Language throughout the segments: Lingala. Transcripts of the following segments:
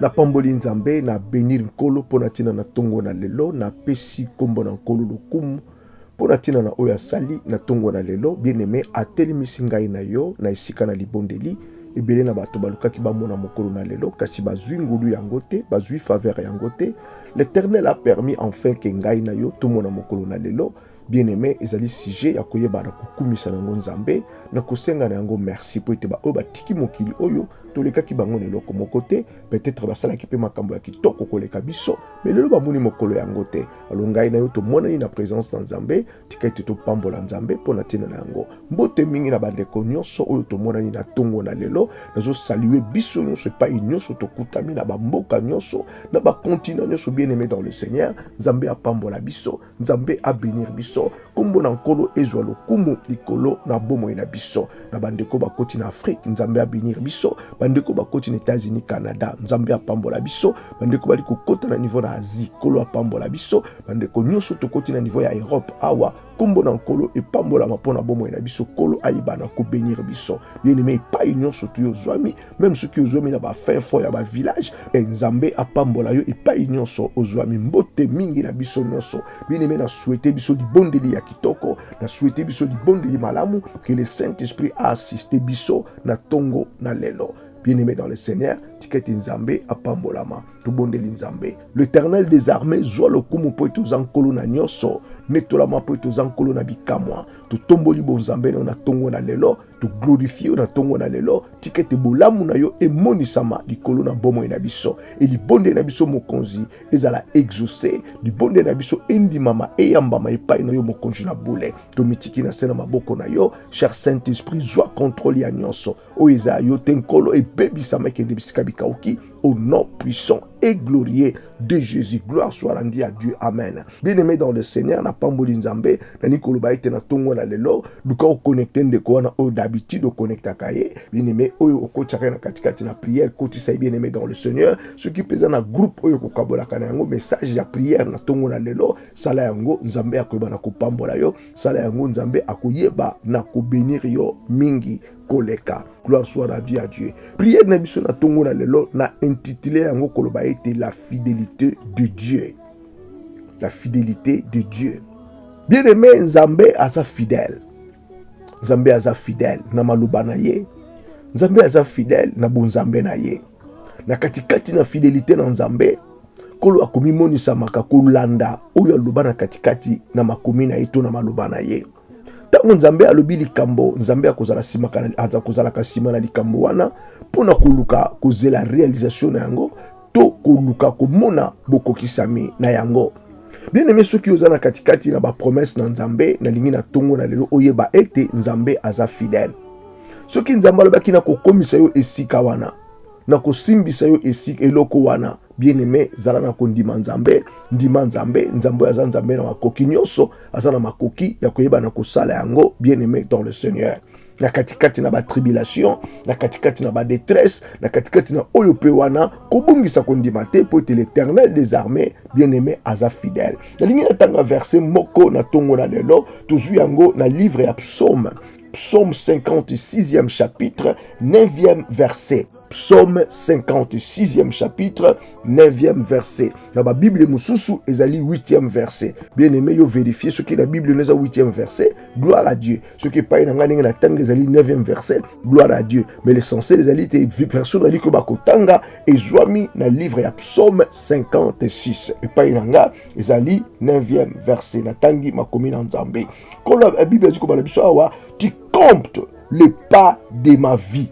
napamboli nzambe na benir nkolo mpo na ntina na ntongo na lelo napesi nkombo na nkolo lokumu mpo na ntina na oyo asali na ntongo na lelo bien-aime atelemisi ngai na yo na esika na libondeli ebele na bato balukaki bamona mokolo na lelo kasi bazwi ngolu yango te bazwi faveur yango te l'éternel a permis enfin ke ngai na yo tomona mokolo na lelo bien-aime ezali sujet ya koyeba na kokumisa na yango nzambe na kosenga na yango merci mpo ete baoyo batiki mokili oyo tolekaki bango na eloko moko te peut-être basalaki mpe makambo ya kitoko koleka biso me lelo bamoni mokolo yango te alo ngai na yo tomonani na présence na nzambe tika ete topambola nzambe mpo na ntina na yango mbote mingi na bandeko nyonso oyo tomonani na ntongo na lelo nazosalue biso nyonso epai nyonso tokutami na bamboka nyonso na bakontina nyonso bien aimé dans le seigneur nzambe apambola biso nzambe abenir biso nkombo na nkolo ezwa lokumu likolo na bomoi na biso na bandeko bakoti na afrike nzambe abenir biso bandeko bakoti na etats-unis canada nzambe apambola biso bandeko bali kokota na niveau na asie nkolo apambola biso bandeko nyonso tokoti na niveau ya europe awa nkombo na nkolo epambolama mpo na bomoi na biso nkolo ayebana kobenir biso bien-aime epai nyonso toyozwami meme soki ozwami na bafin fond ya bavillage e nzambe apambola yo epai nyonso ozwami mbote mingi na biso nyonso bineme na souhaite biso libondeli ya kitoko na souhaite biso libondeli malamu que le saint esprit a assiste biso na ntongo na lelo bien-aimé dans le Seigneur, tiketi nzambe apambolama tobondeli nzambe l'éternel des armées zwa lokumu mpo ete oza nkolo na nyonso netolama mpo ete oza nkolo na bikamwa totomboli bonzambe na yo na ntongo na lelo toglorifie yo na ntongo na lelo tika ete bolamu na yo emonisama likolo na bomoi na biso e libondeli na biso mokonzi ezala exauce libondeli na biso endimama eyambama epai na yo mokonzi na bule tomitiki na se na maboko na yo cher saint esprit zwa kontrole ya nyonso oyo ezala yo te nkolo ebebisama ekende bisika bikauki au nom puissant et glorieux de Jésus. Gloire soit rendue à Dieu. Amen. Bien-aimé dans le Seigneur, na pamboli nzambe, na nikolo ba ete na tongo na lelo, luka o connecte ndeko wana oyo d'habitude o connecta kaye, bien-aimé oyo o kotiaka na katikati na prière, kotisa ye bien-aimé dans le Seigneur, ce qui pesa na groupe oyo ko kabolaka na yango message ya prière na tongo na lelo, sala yango nzambe akoyeba na kopambola yo, sala yango nzambe akoyeba na ko benir yo mingi. koleka gloire soit rendue à dieu priere na biso na ntongo na lelo na intitule yango koloba ete la fidelité de dieu la fidelité de dieu bien aimé nzambe aza fidèle nzambe aza fidèle na maloba na ye nzambe aza fidèle na bonzambe na ye na katikati na fidelité na nzambe nkolo akomimonisamaka kolanda oyo aloba na katikati na makomi na ye to na maloba na ye ntango nzambe alobi likambo nzambe akozala kozalaka nsima na likambo wana mpo na koluka kozela realisation na yango to koluka komona bokokisami na yango bien aime soki oza na katikati na bapromese na nzambe nalingi na ntongo na lelo oyeba ete nzambe aza fidèle soki nzambe alobaki nakokomisa yo esika wana nakosimbisa yo esika eloko wana bien aime zala na kondima nzambe ndima nzambe nzambe oyo aza nzambe na makoki nyonso aza na makoki ya koyeba na kosala yango bien aime dans le seigneur na katikati na batribulation na katikati na badetresse na katikati na oyo mpe wana kobungisa kondima te mpo ete l'éternel des armées bien aimé aza fidèle nalingi natanga verse moko na ntongo na lelo tozwi yango na livre ya psaume psaume 56e chapitre 9e verset Psaume 56e chapitre 9e verset. Na ba Bible mususu ezali 8e verset. Bien aimé yo vérifier ce qui la Bible n'est 8e verset. Gloire à Dieu. Ce qui paye na ngani na tanga ezali 9e verset. Gloire à Dieu. Mais l'essentiel ezali te version na liko ba kotanga ezwami na livre ya Psaume 56. Et paye na nga ezali 9e verset. Na tangi makomi na Nzambe. Quand la Bible dit ko bala biso awa, tu comptes le pas de ma vie.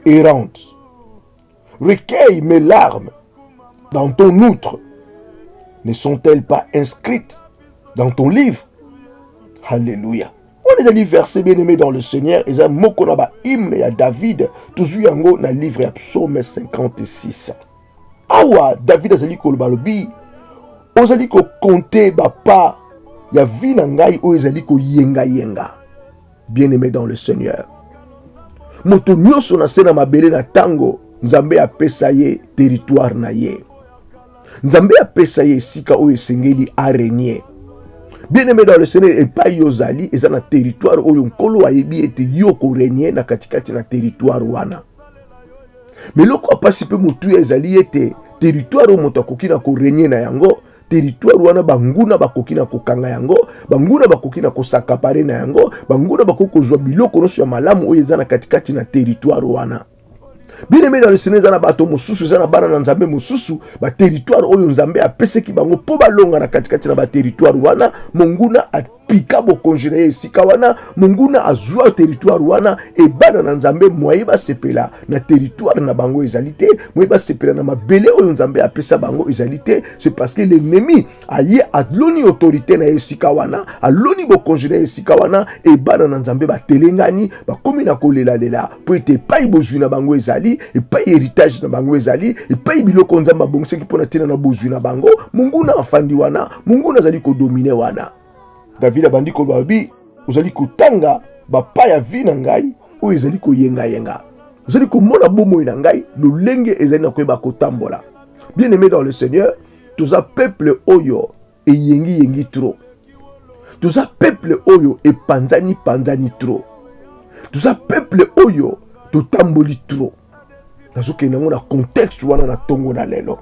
errante. Recueille mes larmes dans ton outre. Ne sont-elles pas inscrites dans ton livre Alléluia. On est verset bien aimé dans le Seigneur. Et moko na ba hymne ya David. Toujours yango na livre ya psaume 56. Awa David azali koloba lobi. Ozali ko compter ba pas ya vie na ngai oyo ezali ko yenga yenga. bien aimé dans le seigneur moto nyonso na se na mabele na ntango nzambe apesa ye teritware na ye nzambe apesa ye esika oyo esengeli arenie bien aimé dans le seigneur epai ozali eza na teritware oyo nkolo ayebi ete yo korenie na katikati na teritware wana me eloko ya mpasi mpe motuya ezali ete teritware oyo moto akoki na korenie na yango teritware wana banguna bakoki na kokanga yango, banguna bakoki na kosakapare na yango, banguna bakoki kozwa biloko nyonso ya malamu oyo eza na katikati na teritware wana. bien aimé dans le seigneur eza na bato mosusu eza na bana na nzambe mosusu bateritware oyo nzambe apesaki bango mpo balonga na katikati na bateritware wana monguna pika bokonzi na ye esika wana monguna azwa teritware wana ebana na nzambe mwaye basepela na teritware na bango ezali te mwaye basepela na mabele oyo nzambe apesa bango ezali te c'est parce que l'ennemi aye aloni autorité na ye esika wana aloni bokonzi na ye esika wana ebana na nzambe batelengani bakomi na kolelalela mpo ete epai bozwi na bango ezali epai heritage na bango ezali epai biloko nzambe abongisaki mpo na ntina na bozwi na bango monguna afandi wana monguna azali kodomine wana david abandi koloba bi ozali kotanga bapa ya vi na ngai oyo ezali koyengayenga ozali komona bomoi na ngai lolenge ezali na koyeba kotambola bien aimé dans le seigneur toza peuple oyo eyengi yengi trop toza peuple oyo epanzani panzani trop toza peuple oyo totamboli trop nazokende yango na contexte wana na ntongo na lelo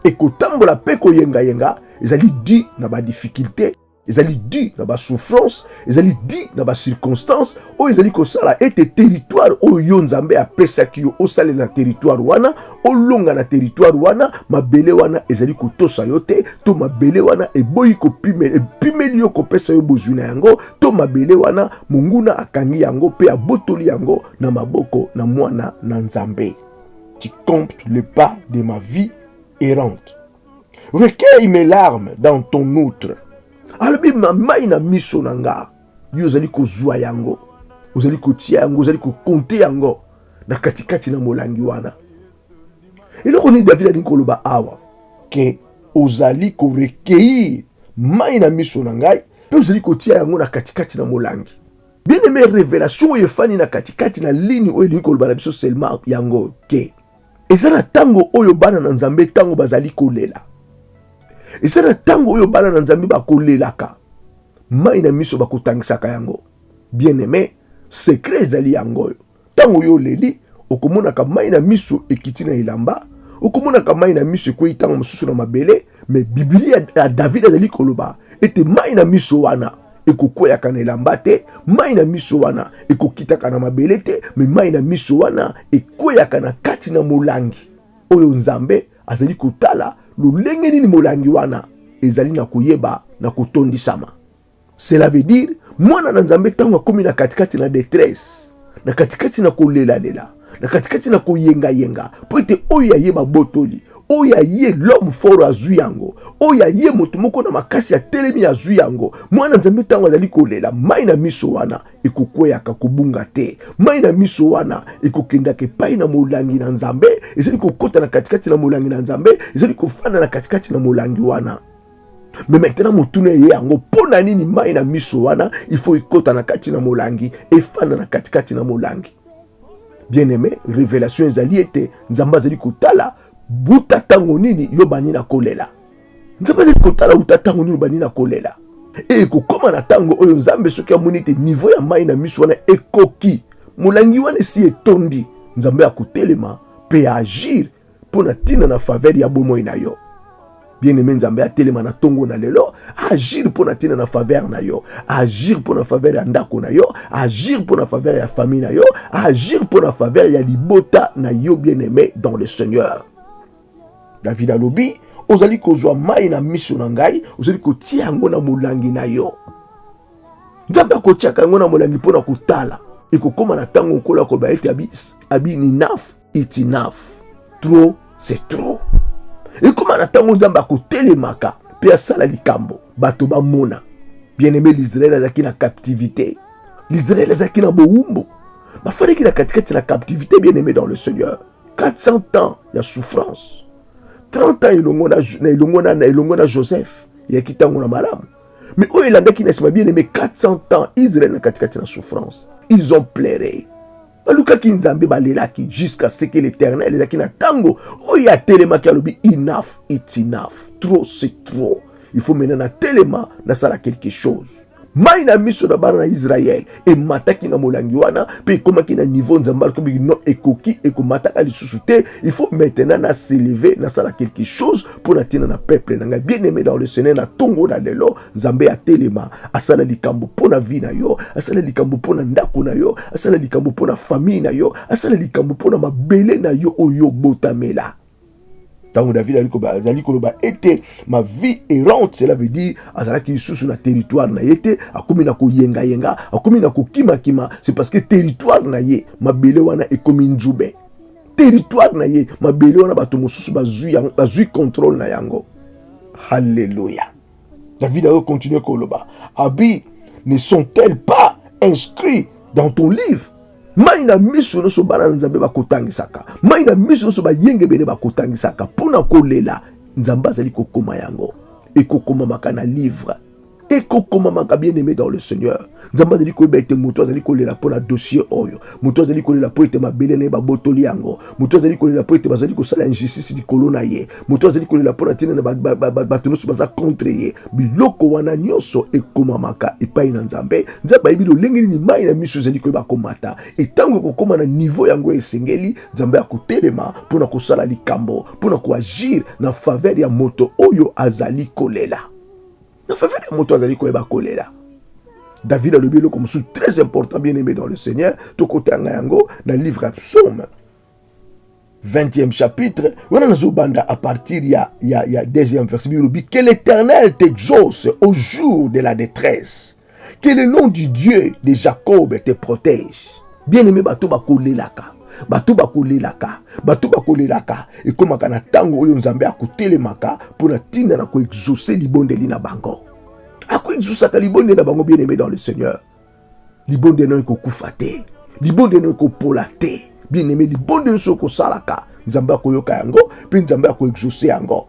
ekotambola mpe koyengayenga ezali di na badifficulte ezali di na basouffrance ezali di na bacirconstance oyo ezali kosala ete teritware oyo yo nzambe apesaki yo osalela na teritware wana olonga na teritware wana mabele wana ezali kotosa yo te to mabele wana eboyi epimeli yo kopesa yo bozwi na yango to mabele wana monguna akangi yango mpe abotoli yango na maboko na mwana na nzambe tu compte le pas de ma vie errante recueille mes larmes dans ton outre alobi mamai na miso na ngai yo ozali kozwa yango ozali kotia yango ozali kokonte yango na katikati na molangi wana eloko nini david alingi koloba awa ke ozali korekeir mai na miso na ngai mpe ozali kotia yango na katikati na molangi bien aime revelation oyo efani na katikati na lini oyo elingi koloba na biso selma yango ke eza na ntango oyo bana na nzambe ntango bazali kolela eza na ntango oyo bana na nzambe bakolelaka mai na miso bakotangisaka yango bien aime sekre ezali yango oyo ntango oyo oleli okomonaka mai na miso ekiti na elamba okomonaka mai na miso ekwei ntango mosusu na mabele Mais Biblia ya David azali koloba ete mai na miso wana ekokweyaka na elamba te, mai na miso wana ekokitaka na mabele te, me mai na miso wana ekweyaka na kati na molangi oyo Nzambe azali kotala lolenge nini molangi wana ezali na koyeba na kotondisama. Cela veut dire mwana na Nzambe ntango akomi na katikati na detresse, na katikati na kolelalela, na katikati na koyengayenga, mpo ete oyo aye babotoli oyo ya ye l'homme fort azwi yango, oyo ya ye moto moko na makasi ya telemi azwi yango. Mwana Nzambe ntango azali kolela, mai na miso wana ekokweyaka kobunga te, mai na miso wana ekokendaka epai na molangi na Nzambe, ezali kokota na katikati na molangi na Nzambe, ezali kofanda na katikati na molangi wana. me maintenant motuna eye yango mpo na nini mai na miso wana ifo ekota na kati na molangi efanda na katikati na molangi bien aime revelation ezali ete nzambe azali kotala buta ntango nini yo bani na kolela nzambe azali kotala uta ntango nini bani na kolela e ekokoma na ntango oyo nzambe soki amoni ete nivo ya mai na miso wana ekoki molangi wana esi etondi nzambe akotelema mpe agir mpo na ntina na faveur ya bomoi na yo bien-aime nzambe atelema na ntongo na lelo agir mpo na ntina na faveur na yo agir mpo na faveur ya ndako na yo agir mpo na faveur ya famille na yo agir mpo na faveur ya libota na yo bien-aime dans le seigneur david alobi ozali kozwa mai na miso na ngai ozali kotia yango na molangi na yo nzambe akotiaka yango na molangi mpo na kotala ekokóma na ntango nkolo akoloba ete abi, abi ninaf It's enough. Trop c'est trop. Ekoma na ntango Nzambe akotelemaka mpe asala likambo bato bamona. Bien-aime, l'Israël azalaki na captivité. L'Israël azalaki na bowumbu. Bafandaki na katikati na captivité, bien-aime dans le Seigneur. 400 ans ya souffrance. 30 ans elongo na elongo na elongo na Joseph ya kitango na malamu. Mais oyo elandaki na sima bien-aime 400 ans Israël na katikati na souffrance. Ils ont pleuré. balukaki nzambe balelaki jusqu'à ce que l'éternel ezalaki na ntango oyo atelemaki alobi enough it's enough trop c'est trop il faut maintenant natelema nasala quelque chose mai na miso na bana na israel emataki na molangi wana mpe ekomaki na niveau nzambe alikobi no ekoki ekomataka lisusu te il faut maintenant na seleve nasala quelque chose mpo na ntina na peuple na ngai bien aimé dans le seigneur na ntongo na lelo nzambe atelema asala likambo mpo na vi na yo asala likambo mpo na ndako na yo asala likambo mpo na famille na yo asala likambo mpo na mabele na yo oyo obotamela ntango david azali koloba ete ma vie errante cela veut dire azalaki lisusu na territoire na ye te akomi na koyengayenga akomi na kokimakima c'est parce que territoire na ye mabele wana ekomi nzube territoire na ye mabele wana bato mosusu bazwi contrôle na yango halleluya David a continué koloba. Abi ne sont-elles pas inscrits dans ton livre? mai na miso nyonso bana na nzambe bakotangisaka mai na miso nyonso bayengebene bakotangisaka mpo na kolela nzambe azali kokoma yango ekokomamaka na livre ekokomamaka bien aimé dans le seigneur nzambe azali koyeba ete moto azali kolela mpo na dosie oyo moto azali kolela mpo ete mabele na ye babotoli yango moto azali kolela mpo ete bazali kosala injustice likolo na ye moto azali kolela mpo na ntina na bato nyonso baza contre ye biloko wana nyonso ekomamaka epai na nzambe nzambe ayebi lolenge nini mai na miso ezali koyeba komata etango ekokoma na nivo yango esengeli nzambe akotelema mpo na kosala likambo mpo na koagir na faveur ya moto oyo azali kolela na fafa na moto azali koyeba kolela david alobi eloko mosusu très important bien aimé dans le seigneur tokotanga yango na livre ya psaume 20e chapitre wana nazobanda à partir ya, ya, ya deuxième verset bilobi que l'éternel t'exauce au jour de la détresse Que le nom du Dieu de Jacob te protège. Bien-aimé bato bakolelaka bato bakolelaka bato bakolelaka ekomaka na ntango oyo nzambe akotelemaka mpo na ntina na koexauce libondeli na bango akoexausaka libondeli na bango bien aimé dans le seigneur libondeli nayo ekokufa te libondeli nayo ekopola te bien aimé libondeli nyonso okosalaka nzambe akoyoka yango mpe nzambe akoexauce yango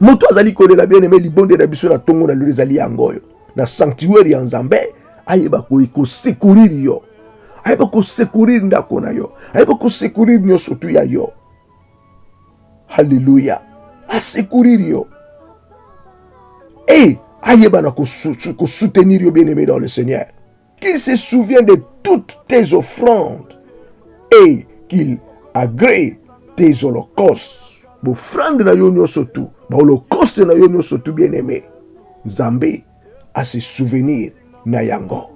Moto azali kolela bien aime libonde na biso na tongo na lelo ezali yango oyo na sanctuaire ya Nzambe ayeba kosekurir yo ayeba kosekurir ndako na yo ayeba kosekurir nyonso tu ya yo haleluya asekurir yo e ayeba na kosoutenir yo bien aime dans le seigneur Qu'il se souvient de toutes tes offrandes et qu'il agrée tes holocaustes. Bofrande na yo nyonso tu, baholokoste na yo nyonso tu, bien aime, Nzambe ase souvenir na yango,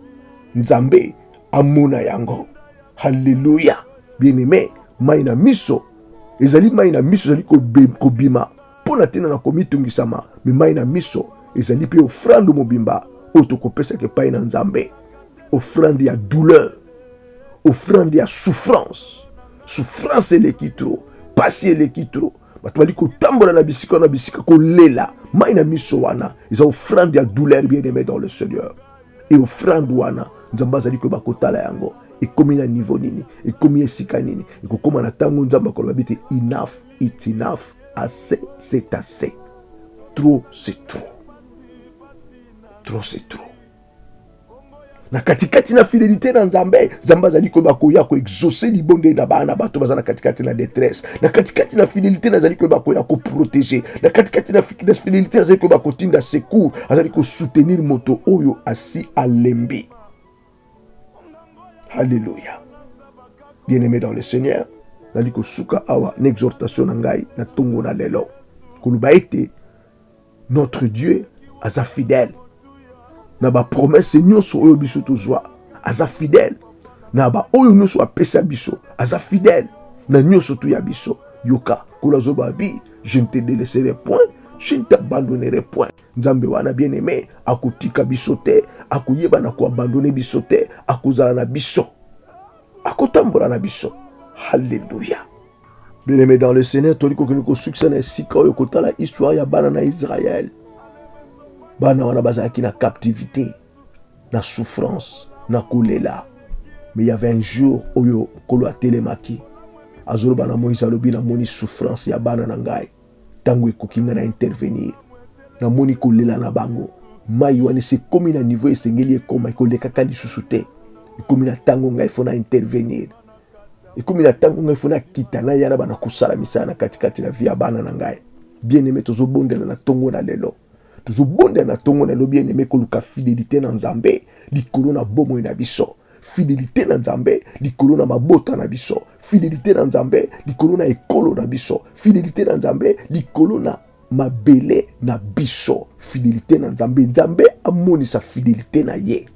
Nzambe amona yango. Haleluya! Bien aime, mai na miso ezali mai na miso ezali kobima Mpo na ntina na komitungisama, mimai na miso ezali mpe ofrande mobimba oyo tokopesaka epai na Nzambe, ofrande ya douleur, ofrande ya souffrance. Souffrance eleki tro, mpasi eleki tro, bato bali kotambola na bisika na bisika kolela mai na miso, wana eza ofrande ya douleur bien aime dans le Seigneur. E ofrande wana Nzambe azali koyeba kotala yango ekomi na niveau nini, ekomi esika nini, ekokoma na ntango Nzambe akoloba bite enough it's enough assez c'est assez trop c'est trop trop c'est trop na katikati na fidelité na nzambe nzambe azali koyeba koya koexauce libondeli na bana bato baza na katikati na détresse na katikati na fidelité nazali koyeba koya koprotege na katikati na fidelité nazali koyeba kotinda secours azali kosoutenir moto oyo asi alembi Alléluia. Bien-aimé dans le Seigneur, nali kosuka awa na exhortation na ngai na tongo na lelo koloba ete notre Dieu aza fidèle na ba promesse nyonso oyo biso tozwa aza fidèle na ba oyo nyonso apesa biso aza fidèle na nyonso tu ya biso yoka kolazoba bi je ne te délaisserai point je ne t'abandonnerai point Nzambe wana bien aime akotika biso te, akoyeba na koabandone biso te, akozala na biso, akotambola na biso. Haleluya! Bien aime dans le Seigneur, tolingi kokende kosukisa na esika oyo kotala histoire ya bana na Israël. Bana wana bazalaki na captivité, na souffrance, na kolela, mais il y avait un jour oyo nkolo atelemaki azoloba na moïse alobi namoni souffrance ya bana na ngai Tango ekoki nga na intervenir. Namoni kolela na bango. Mai wana esi ekomi na niveau esengeli ekoma, ekolekaka lisusu te. Ekomi na tango ngai fo na intervenir. Ekomi na tango ngai fo na kita na yana bana kosala misala na katikati na vie ya bana na ngai. Bien aimé tozobondela na tongo na lelo. Tozobondela na tongo na lelo bien aimé koluka fidelite na Nzambe likolo na bomoi na biso. fidelite na nzambe likolo na mabota na biso fidelite na nzambe likolo na ekolo na biso fidelite na nzambe likolo na mabele na biso fidelite na nzambe nzambe amonisa fidelite na ye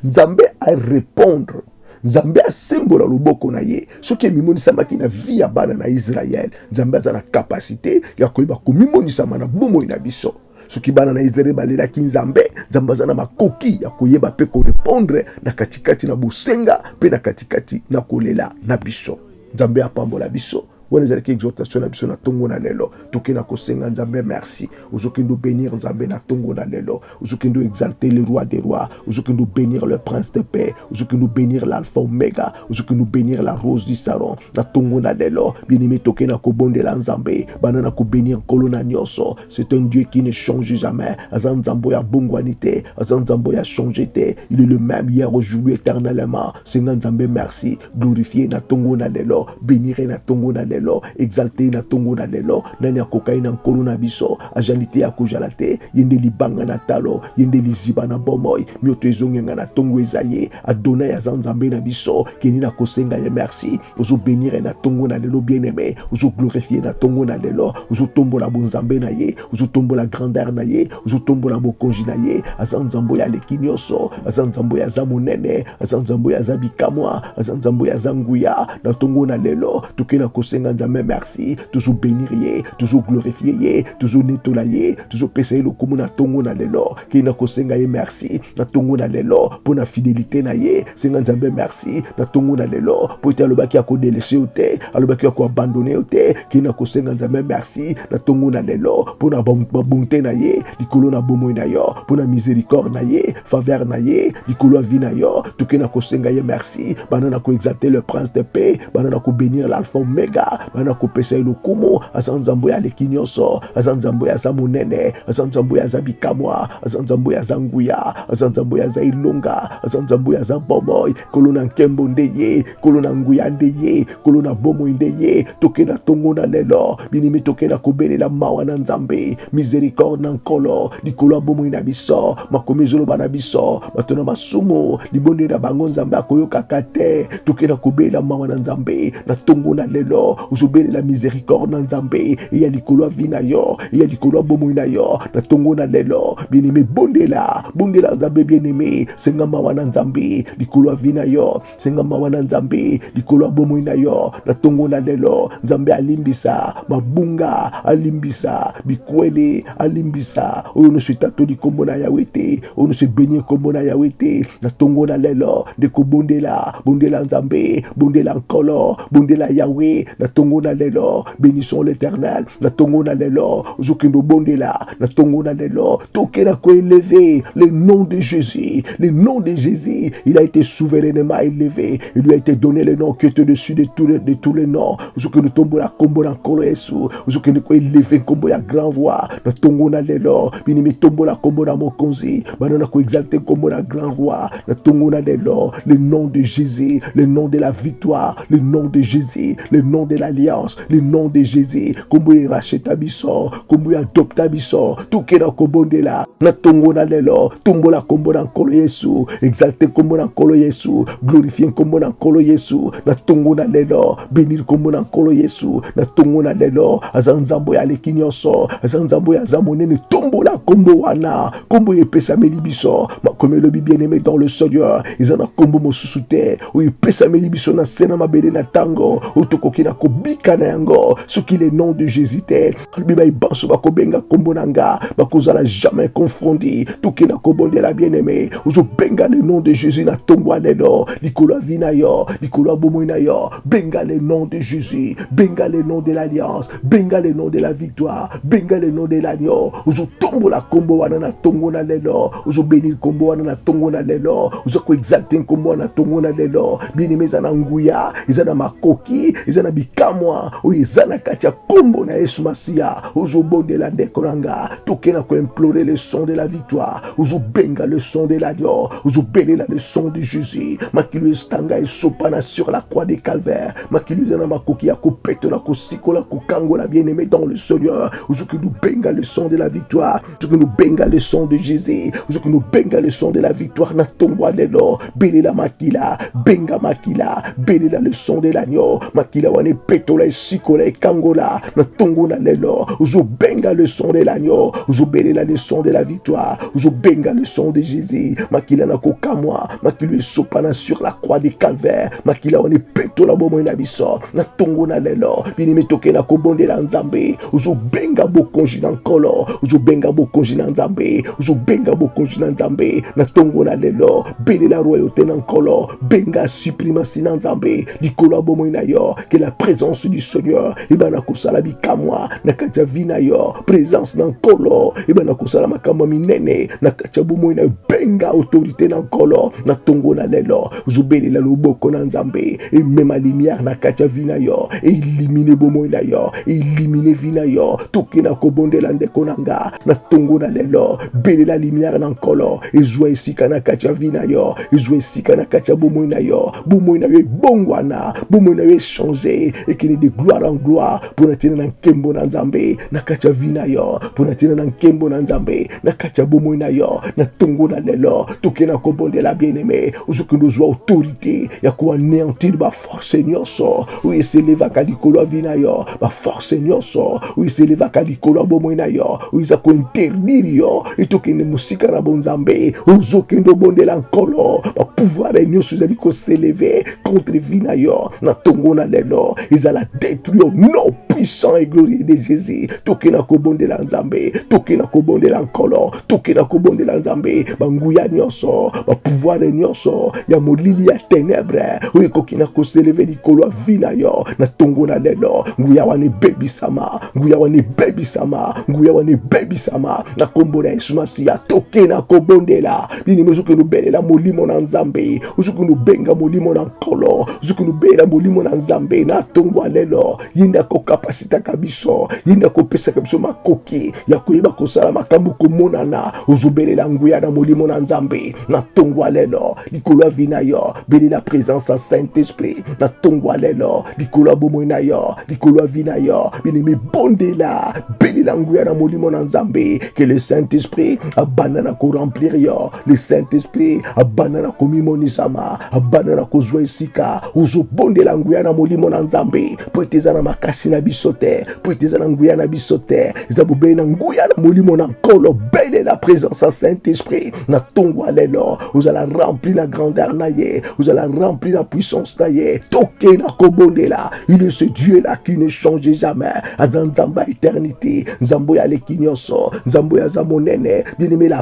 nzambe arepondre nzambe asembola loboko na ye soki emimonisamaki na vi ya bana na israele nzambe aza na kapasite ya koyeba komimonisama na bomoi na biso soki bana na Israele balelaki Nzambe, Nzambe aza na makoki ya koyeba mpe korepondre na katikati na bosenga mpe na katikati na kolela na biso. Nzambe apambola biso. wana ezalaki exhortation na biso na ntongo na lelo toke na kosenga nzambe merci ozokende obenir nzambe na ntongo na lelo ozokende oexalte le roi des rois ozokende obenir le prince de paix ozokende obenir l'alpha omega ozokende obenir la rose du saron na ntongo na lelo bien-aime toke na kobondela nzambe banda na kobenir nkolo na nyonso C'est un Dieu qui ne change jamais. Azan Zamboya Bongwanite, Azan Zamboya changete. Il est le même hier, aujourd'hui, éternellement. Seigneur Nzambe, merci. Glorifié na tongo na lelo. Béniré na tongo na lelo. Exalté na tongo na lelo. Nani a cocaïne na nkolo na biso. Ajanite ya kojalate. Yende libanga na talo. Yende liziba na bomoy. Mioto ezongenga na tongo ezaye. Adonai Azan Zambe na biso. Keni na kosenga ye merci. ozo benire na tongo na lelo bien aime ozo glorifie na tongo na lelo ozo tombola bonzambe na ye ozo tombola grandeur na ye ozo tombola bokonzi na ye aza nzambo ya leki nyonso aza nzambo ya aza monene aza nzambo ya aza bikamwa aza nzambo ya aza nguya na tongo na lelo toke na kosenga nzambe merci tozo benire ye tozo glorifie ye tozo netola ye tozo pesa ye lokumu na tongo na lelo ke na kosenga ye merci na ntongo na lelo mpo na fidelite na ye senga nzambe merci na ntongo na lelo mpo ete alobaki akodelese yo te alobaki ya koabandone yo te kei na kosenga nzambe merci na ntongo na lelo mpo na babonte na ye likolo na bomoi na yo mpo na misericorde na ye faveur na ye likolo ya vi na yo toke na kosenga ye merci banda na koexalte le prince de paix banda na kobenir l'alpha omega wana kopesa ye lokumu aza nzambe oyo aleki nyonso aza nzambe oyo aza monene aza nzambe oyo aza bikamwa aza nzambe oyo aza nguya aza nzambe oyo aza elonga aza nzambe oyo aza bomoi kolo na nkembo nde ye kolo na nguya nde ye kolo na bomoi nde ye toke na ntongo na lelo binimi toke na kobelela mawa na nzambe misericorde na nkolo likolo ya bomoi na biso makomi ezoloba na biso bato na masumu libondeli na bango nzambe akoyokaka te tokenda kobelela mawa na nzambe na ntongo na lelo ozobelela misericorde na nzambe eya likolo ya vi na yo eya likolo ya bomoi na yo na ntongo na lelo bieneme bondela bondela nzambe bieneme senga mawa na nzambe likolo ya vi na yo senga mawa na nzambe likolo ya bomoi na yo na ntongo na lelo nzambe alimbisa mabunga alimbisa bikwele alimbisa oyo nyonso etatoli nkombo na yawe te oyo nyonso ebeni nkombo na yawe te na ntongo na lelo nde kobondela bondela nzambe bondela nkolo bondela yawe na ntongo na lelo Bénissons l'éternel, na tongo na lelo, zokendo bondela, na tongo na lelo, tokela ko élevé, le nom de Jésus, le nom de Jésus, il a été souverainement élevé, il lui a été donné le nom qui est au-dessus de tous les, de tous les noms, zokendo tombo la kombo na kolo yesu, zokendo ko élevé kombo ya grand voix, na tongo na lelo, bini mi tombo la kombo na mokonzi, bana na koexalte nkombo na grand roi na ntongo na lelo le nom de jésus le nom de la victoire le nom de jésus le nom de l'alliance le nom de jésus nkombo ya racheta biso nkombo ya adopta biso toke na kobondela na ntongo na lelo tumbola nkombo na nkolo yesu exalte nkombo na nkolo yesu glorifie nkombo na nkolo yesu na ntongo na lelo benir nkombo na nkolo yesu na ntongo na lelo aza nzambo ya aleki nyonso aza nzambo ya aza monene tombola nkombo wana kombo oyo epesameli biso makomi elobi bien aime dans le seigneur eza na kombo mosusu te oyo epesameli biso na se na mabele na ntango oyo tokoki na kobika na yango soki le nom de jésus te alobi bai banso bakobenga kombo na nga bakozala jamais confondi toke na kobondela bien aime ozobenga le nom de jésus na ntongo ya lelo likolo ya vi na yo likolo ya bomoi na yo benga le nom de jésus benga le nom de l'alliance benga le nom de la victoire benga le nom de l'agneau ozotombola nkombo wana na ntongo na lelo ozobeni nkombo wana na ntongo na lelo oza koexalte nkombo wana na ntongo na lelo bieneme eza na nguya eza na makoki eza na bikamwa oyo eza na kati ya nkombo na yesu masiya ozobondela ndeko na nga toke na koimplore le son de la victoire ozobenga le son de l'agneau ozobelela le son de jésus makilo estanga esopana sur la croix de calvaire makili eza na makoki ya kopetola kosikola kokangola bien aimé dans le seigneur ozoki nobenga le son de la victoire ozoki nobenga le son de jésus ozoki nobenga le son de la victoire na ntongo ya lelo belela makila benga makila belela le son de l'agneau makila wana epetola esikola ekangola na ntongo na lelo ozobenga le son de l'agneau ozobelela le son de la victoire ozobenga le son de jésus makila na kokamwa makilo esopana sur la croix de calvaire makila wana epetola bomoi na biso na ntongo na lelo binimi toke na kobondela nzambe ozobenga bokonzi na nkolo ozobenga bokonzi na nzambe ozobenga bokonzi na nzambe na ntongo na lelo belela royauté na nkolo benga suprimasi na nzambe likolo ya bomoi na yo ke la présence du seigneur ebana kosala bikamwa na kati ya vi na yo présence na nkolo ebana kosala makambo minene na kati ya bomoi na yo benga autorité na nkolo na ntongo na lelo zobelela loboko na nzambe emema lumière na kati ya vi na yo elimine bomoi na yo elimine vi na yo toke na kobondela ndeko na nga na ntongo na lelo belela lumière na nkolo ezwa esika na kati ya vi na yo ezwa esika na kati ya bomoi na yo bomoi na yo ebongwana bomoi na yo echange ekende de gloire en gloire mpo na ntina na nkembo na nzambe na kati ya vi na yo mpo na ntina na nkembo na nzambe na kati ya bomoi na yo na ntongo na lelo toke na kobondela bien-aime ozokende ozwa autorité ya koaneantir baforce nyonso oyo eselevaka likolo ya vi na yo baforce nyonso oyo eselevaka likolo ya bomoi na yo oyo eza kointerdire yo etokende mosika na bonzambe ozokende obondela nkolo bapouvoir nyonso ezali koseleve contre vi na yo na ntongo na lelo ezala detruire no puissant et glorieux de jésus toke na kobondela nzambe toke na kobondela nkolo toke na kobondela nzambe banguya nyonso bapouvoire nyonso ya molili ya tenebre oyo ekoki na koseleve likolo ya vi na yo na tongo na lelo nguya wana ebebisama nguya wana ebebisama nguya wana ebebisama na nkombo na yesu masiya toke na kobondela binimi ozoki lobelela molimo na nzambe ozoki lobenga molimo na nkolo ozoki lobelela molimo na nzambe na tongo ya lelo ye nde akokapasitaka biso ye nde akopesaka biso makoki ya koyeba kosala makambo komonana ozobelela nguya na molimo na nzambe na ntongo ya lelo likolo ya vi na yo belela présence ya saint esprit na ntongo ya lelo likolo ya bomoi na yo likolo ya vi na yo binemi bondela belela nguya na molimo na nzambe que le saint esprit abanda na koremplir yo le saint esprit abanda na komimonisama abanda na kozwa esika ozobondela nguya na molimo na nzambe mpo ete eza na makasi na biso te mpo ete eza na nguya na biso te eza bobele na nguya na molimo na nkolo bele na présence ya saint esprit na ntongo ya lelo ozala rempli na grandeur na ye ozala rempli na puissance na ye toke na kobondela il est ce dieu là qui ne change jamais aza nzambe ya éternité nzambe oyo aleki nyonso nzambe oyo aza monene bien aime la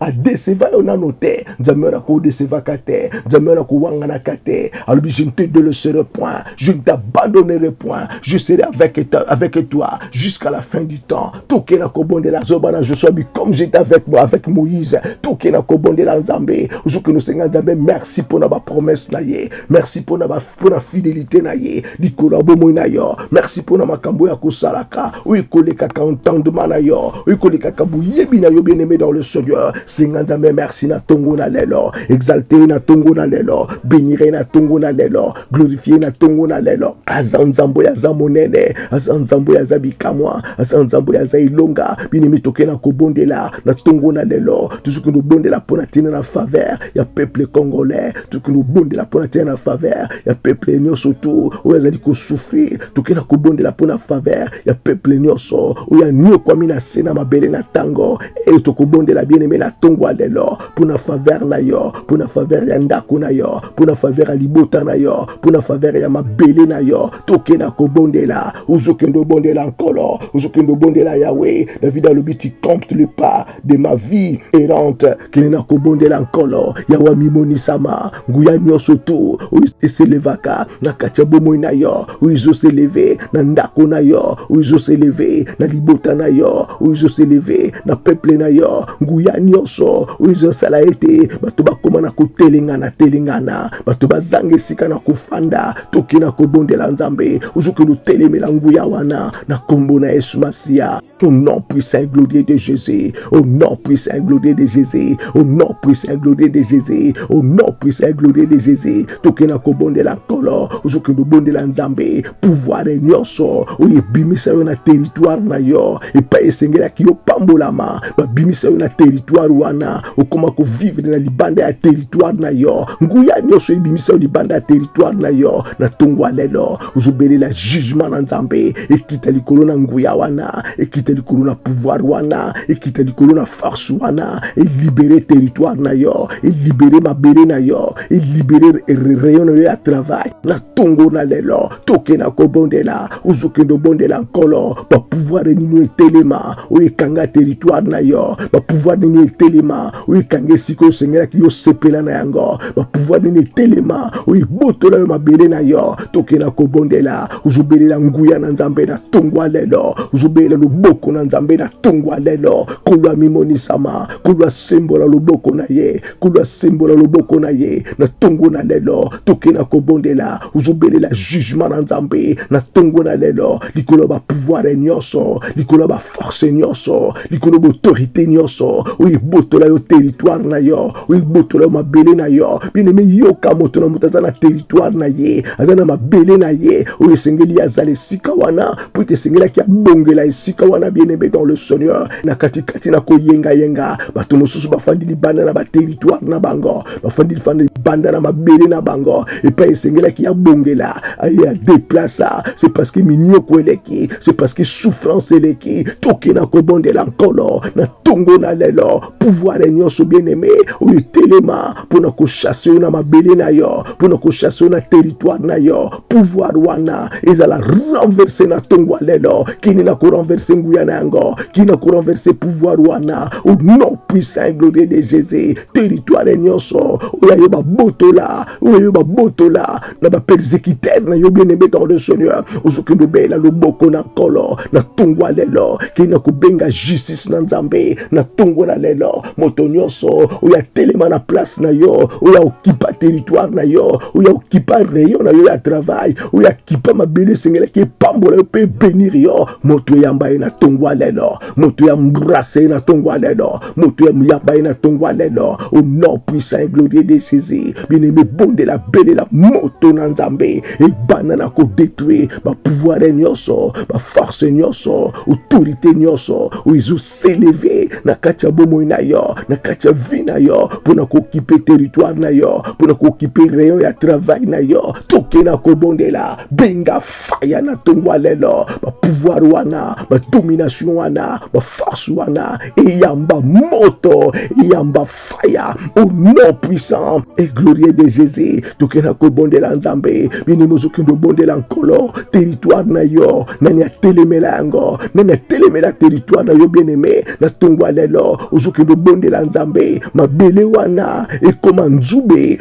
adeseva yo nano te nzambe wana kodesevaka te nzambe wana kowanganaka te alobi je ne te deleserai point je ne t'abandonnerai point je serai avec, avec toi jusqu'à la fin du temps toke na kobondela zoba na josua bi comme j'étais avec, avec moïse toke na kobondela nzambe ozoki nosenga nzambe merci mpona bapromesse na ye merci mpona ba mpo na fidelite na ye likolo ya bomoi na yo merci mpo na makambo oyo akosalaka oyo ekolekaka entendement na yo oyo ekolekaka boyebi na yo bien aimé dans le seigneur senga nzambe merci na ntongo na lelo exalte ye na ntongo na lelo benire ye na ntongo na lelo glorifie ye na ntongo na lelo aza nzambe oyo aza monene aza nzambe oyo aza bikamwa aza nzambe oyo aza elonga bien aimé toke na kobondela na ntongo na lelo tozoki kobondela mpo na ntina na faveur ya peuple congolais tokoki kobondela mpo na tia na faveur ya peuple nyonso tu oyo azali kosouffrir tokoki na kobondela mpo na faveur ya peuple nyonso oyo anyokwami na se na mabele na ntango eyo tokobondela bien aime na ntongo ya lelo mpo na faveur na yo mpo na faveur ya ndako na yo mpo na faveur ya libota na yo mpo na faveur ya mabele na yo toke na kobondela ozokende obondela nkolo ozokende obondela yawe david alobi tu compte le pas de ma vie errante kende na kobondela nkolo ya wamimonisama nguya nyonso tu oyo eselevaka na kati ya bomoi na yo oyo ezoseleve na ndako na yo oyo ezoseleve na libota na yo oyo ezoseleve na peple na yo nguya nyonso oyo ezosala ete bato bakoma na kotelengana telengana bato bazanga esika na kofanda toke na kobondela nzambe ozoki lotelemela nguya wana na nkombo na yesu masiya Au nom puissant et glorieux de Jésus. Au nom puissant et glorieux de Jésus. Au nom puissant et glorieux de Jésus. Au nom puissant et glorieux de Jésus. Tokena kobondela nkolo ozokende obondela nzambe pouvoir nyonso oyo ebimisa yo na territoire na yo epai esengelaki yo pambolama babimisa yo na territoire wana okoma kovivre na libanda ya territoire na yo nguya nyonso ebimisa yo libanda ya territoire na yo na ntongo ya lelo ozobelela jugement na nzambe ekita likolo na nguya wana ekita likolo na pouvoir wana ekita likolo na force wana elibere territoire na yo elibere mabele na yo elibere rayon na yo ya travail na tongo na lelo toke na kobondela ozokende obondela nkolo bapouvoir nini etelema oyo ekanga territoire na yo bapouvoir nini etelema oyo ekanga esika osengelaki yo sepela na yango bapouvoir nini etelema oyo ebotola yo mabele na yo tokenda kobondela ozobelela nguya na nzambe na tongwa lelo ozobelela loboko na nzambe na tongwa lelo kolo amimonisama kolo asembola loboko na ye kolo asembola loboko na ye na tongo na lelo tokenda kobondela ozobelela jugement na nzambe na tongo na lelo likolo ya bapouvoir nyonso likolo ya baforce nyonso likolo ya baautorité nyonso oyo ebotola yo territoire na yo oyo ebotola yo mabele na yo bien-aime yoka moto na moto aza na territoire na ye aza na mabele na ye oyo esengeli ye azala esika wana mpo ete esengelaki abongela esika wana bien-aime dans le seigneur na katikati na koyengayenga bato mosusu bafandi libanda na baterritoire na bango bafandi lifanda libanda na mabele na bango epai esengelaki abongela aye adeplasa c'est parce que minioko eleki c'est parce que souffrance eleki tokenda kobondela nkolo na ntongo na lelo pouvoir nyonso bien aimé oyo etelema mpo na kochasse yo na mabele na yo mpo na kochasse yo na territoire na yo pouvoir wana ezala renverse na ntongo ya lelo kini na korenverse nguya na yango kini na korenverse pouvoir wana au nom puissant et glorieux de jésus territoire nyonso oyo ayo babotola oyo ayo babotola na ba persécuteur na yo bien aimé dans le Seigneur ozoki lobela loboko na kolo na tungwa lelo ki na kobenga justice na Nzambe na tungwa na lelo moto nyonso oyo atelema na place na yo oyo okipa territoire na yo oyo okipa rayon na yo ya travail oyo akipa mabele esengelaki epambola yo mpe ebenir yo moto eyamba ye na tungwa lelo moto ya mbrase ye na ntongo ya lelo moto ya muyamba ye na ntongo ya lelo au nom puissant et glorieux de jésus bien aimé bondela belela moto na nzambe ebanda na kodetruire bapouvoire nyonso baforce nyonso autorité nyonso oyo ezoseleve na kati ya bomoi na yo na kati ya vie na yo mpo na kokipe territoire na yo mpo na kokipe rayon ya travail na yo tokela kobondela benga faya na ntongo ya lelo bapouvoir wana badomination wana baforce wana eyamba moto eyamba faya au nom puissant et glorieux de jésus tokenda kobondela nzambe bini mozokende obondela nkolo territoire na yo nani atelemela yango nani atelemela territoire na yo bien aime na ntongo ya lelo ozokende obondela nzambe mabele wana ekoma nzube